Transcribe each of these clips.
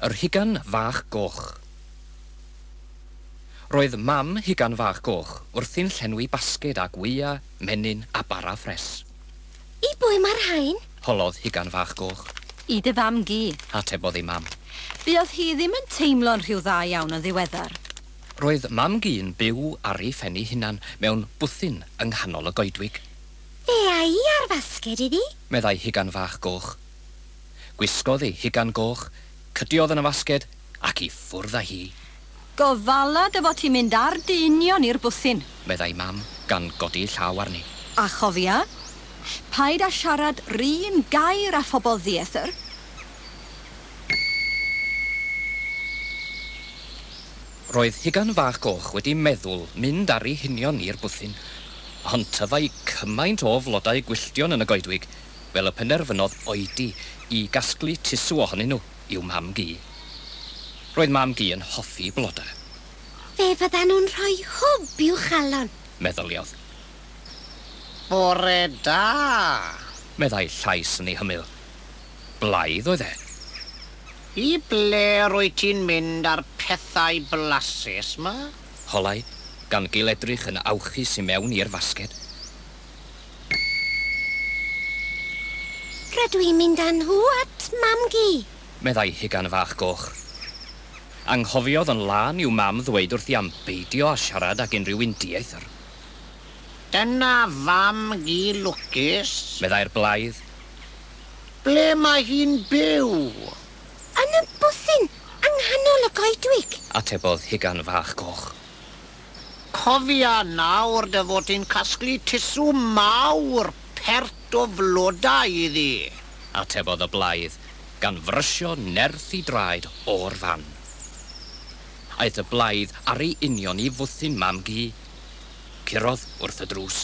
Yr Hugan Fach Goch. Roedd mam Hugan Fach Goch wrthi'n llenwi basged â gwya, menyn a bara ffres. I bwy mae'r rhain? holodd Hugan Fach Goch. I dy fam gi. Atebodd ei mam. Buodd hi ddim yn teimlo'n rhyw dda iawn yn ddiweddar. Roedd mam gi'n byw ar ei phen ei hunan mewn bwthyn yng nghanol y goedwig. Fe a'i ar fasged iddi. Meddai Hugan Fach Goch. Gwisgodd ei hugan goch, cydiodd yn y fasged, ac i ffwrdd â hi. Gofala dy fod ti'n mynd â'r deinynion i'r bwthyn. Meddai Mam, gan godi'i llaw arni. A chofia, paid â siarad 'run gair â phobl ddiethr. Roedd Hugan Fach Goch wedi meddwl mynd â'ri hunion i'r bwthyn, ond tyfai cymaint o flodau gwylltion yn y goedwig, fel y penderfynodd oedi i gasglu tusw ohonyn nhw i'w mam-gu. Roedd mam-gu yn hoffi blodau. Fe fyddan nhw'n rhoi hwb i'w chalon! meddyliodd. Bore da! meddai llais yn ei hymyl. blaidd oedd e. I ble rwyt ti'n mynd â'r pethau blasus 'ma? Holai, gan gil-edrych yn awchus i mewn i'r fasged. Rydw i'n mynd â nhw at Mam-gu! meddai Hugan Fach Goch. Anghofiodd yn lân i'w mam ddweud wrthi am beidio â siarad ag unrhyw un dieithr. Dyna Fam-gu lwcus! meddai'r blaidd. Ble mae hi'n byw? Yn y bwthyn yng nghanol y goedwig. Atebodd Hugan Fach Goch. Cofia nawr dy fod ti'n casglu tusw mawr pert o flodau iddi! Atebodd y blaidd, gan frysio nerth i draed o'r fan. Aeth y blaidd ar ei union i fwthyn Mam-gu. Curodd wrth y drws.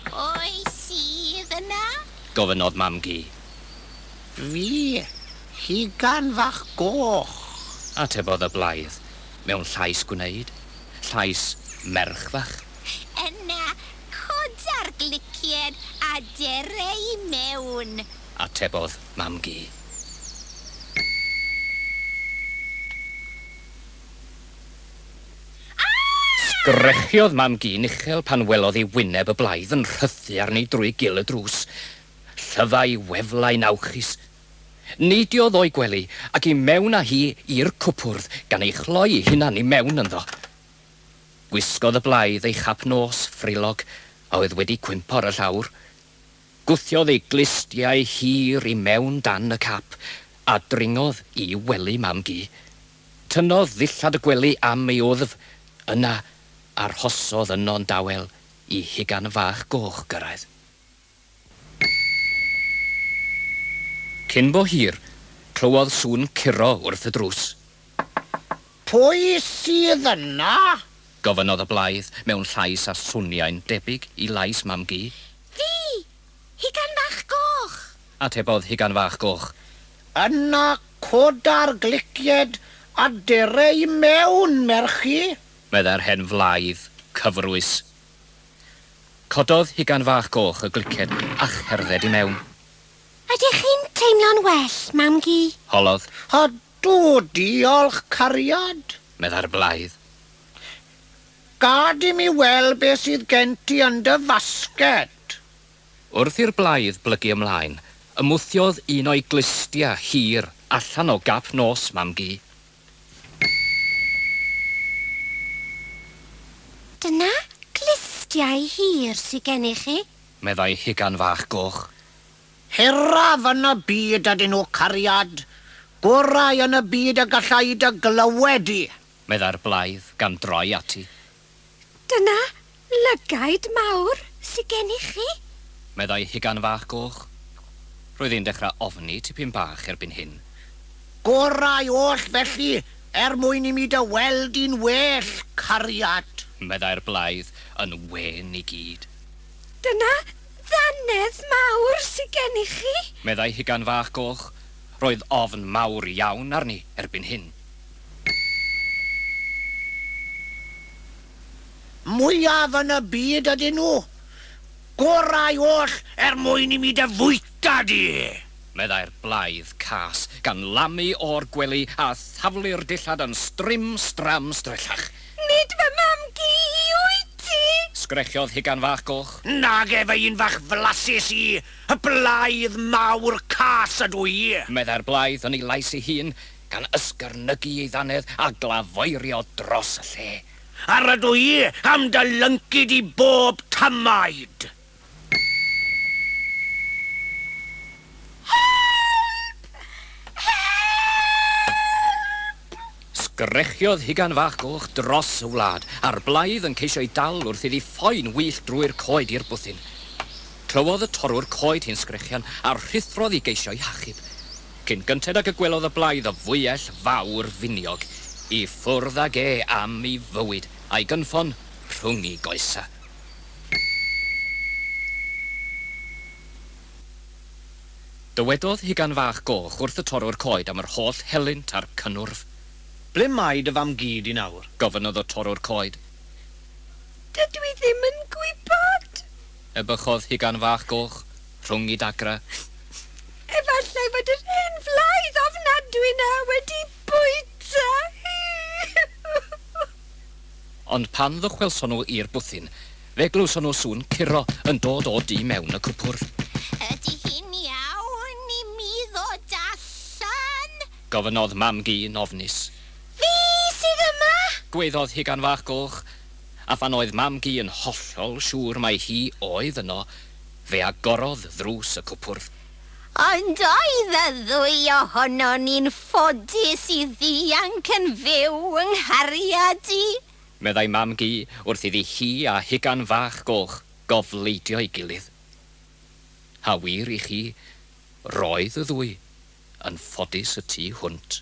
Pwy sydd yna? gofynnodd Mam-gu. Fi, Lligan fach goch. Atebodd y blaidd mewn llais gwneud, llais merch fach. Yna coda'r glicied a ger e i mewn. Atebodd Mam-gu. Sgrechiod mam-gu Nichel pan welodd ei wyneb y blaidd yn rhythu arni drwy gil y drws. Llyfai weflau'n awchus. Neidiodd o'i gwely ac i mewn â hi i'r cwpwrdd gan ei chloi'i hunan i mewn ynddo. Gwisgodd y blaidd ei chap nos frillog a oedd wedi cwympo ar y llawr. Gwthiodd ei glustiau hir i mewn dan y cap a dringodd i wely mam-gu. Tynnodd ddillad y gwely am ei wddf, yna arhosodd yno'n dawel i hugan fach goch gyrraedd. Cyn bo hir, clywodd sŵn curo wrth y drws. Pwy sydd yna? gofynnodd y blaidd mewn llais a swnio'n debyg i lais Mam-gu. Fi! Hugain fach goch! Atebodd Hugain fach goch. Yna coda'r glicied a dere i mewn, merchi! Meddai'r hen flaidd, cyfrwys. Cododd Hugain fach goch y glicied a cherdded i mewn. Ydych chi'n teimlo'n well, mam-gu? Holodd. Ydw, diolch, cariad. Meddai'r blaidd. Gad i mi weld beth sydd gen ti yn dy fasged! Wrth i'r blaidd blygu ymlaen, ymwthiodd un o'i glustiau hir allan o gap nos Mam-gu. Dyna glustiau hir sy gennych chi? meddai Hugan Fach Goch. Hiraf yn y byd ydyn nhw, cariad. Gorau yn y byd y galla i dy glywed di! meddai'r blaidd, gan droi ati. Dyna lygaid mawr sy gen i chi! meddai Hugan Fach Goch. Roedd e'n dechrau ofni tipyn bach erbyn hyn. Gorau oll, felly, er mwyn i mi dy weld di'n well, cariad! meddai'r blaidd, yn wên i gyd. Dyna ddannedd mawr sy gen i chi! meddai Hugan Fach Goch. Roedd ofn mawr iawn arni erbyn hyn. mwyaf yn y byd ydyn nhw. Gorau oll er mwyn i mi dy fwyta di! meddai'r blaidd cas, gan lamu o'r gwely a thaflu'r dillad yn strim stram strellach. Nid fy mam-gu i wyt ti! sgrechodd Hugan Fach Goch. Nage, fy un fach flasus i, y blaidd mawr cas ydw i! meddai'r blaidd yn ei lais ei hun, gan ysgarnygu ei ddannedd a glafoerio dros y lle. Ar ydw i am dy lyncu di bob tamaid! Help! Help! Sgrechiod Hugan Fach Goch dros y wlad, a'r blaidd yn ceisio ei dal wrth iddi phoen wyllt drwy'r coed i'r bwthyn. Clywodd y torrwr coed hi'n sgrechian a rhuthrodd i geisio ei hachub. Cyn gynted ag y gwelodd y blaidd o fwyell fawr finiog i ffwrdd ag e am i fywyd a'i gynffon rhwng i goesa. Dywedodd Hugan Fach Goch wrth y torrwr coed am yr holl helynt a'r cynnwrf. Ble mae dy fam gu di nawr? Gofynnodd y torrwr coed. Dydw i ddim yn gwybod! Y bychodd hugan fach goch rhwng i dagra. Efallai fod yr hen flaidd ofnadwy 'na wedi bwyta hi! Ond pan ddychwelson nhw i'r bwthyn, fe glywson nhw sŵn curo yn dod o du mewn y cwpwrdd. Ydy hi'n iawn i mi ddod allan? Gofynnodd mam-gu yn ofnus. Fi sydd yma! Gwaeddodd hugan fach goch. a phan oedd Mam-gu yn hollol siŵr mai hi oedd yno, fe agorodd ddrws y cwpwrdd. Ond oedd y ddwy ohonon ni'n ffodus i ddianc yn fyw yng nghariad i! meddai Mam-gu wrth iddi hi a hugan fach goch gofleidio'i gilydd. A wir i chi, roedd y ddwy yn ffodus y tu hwnt.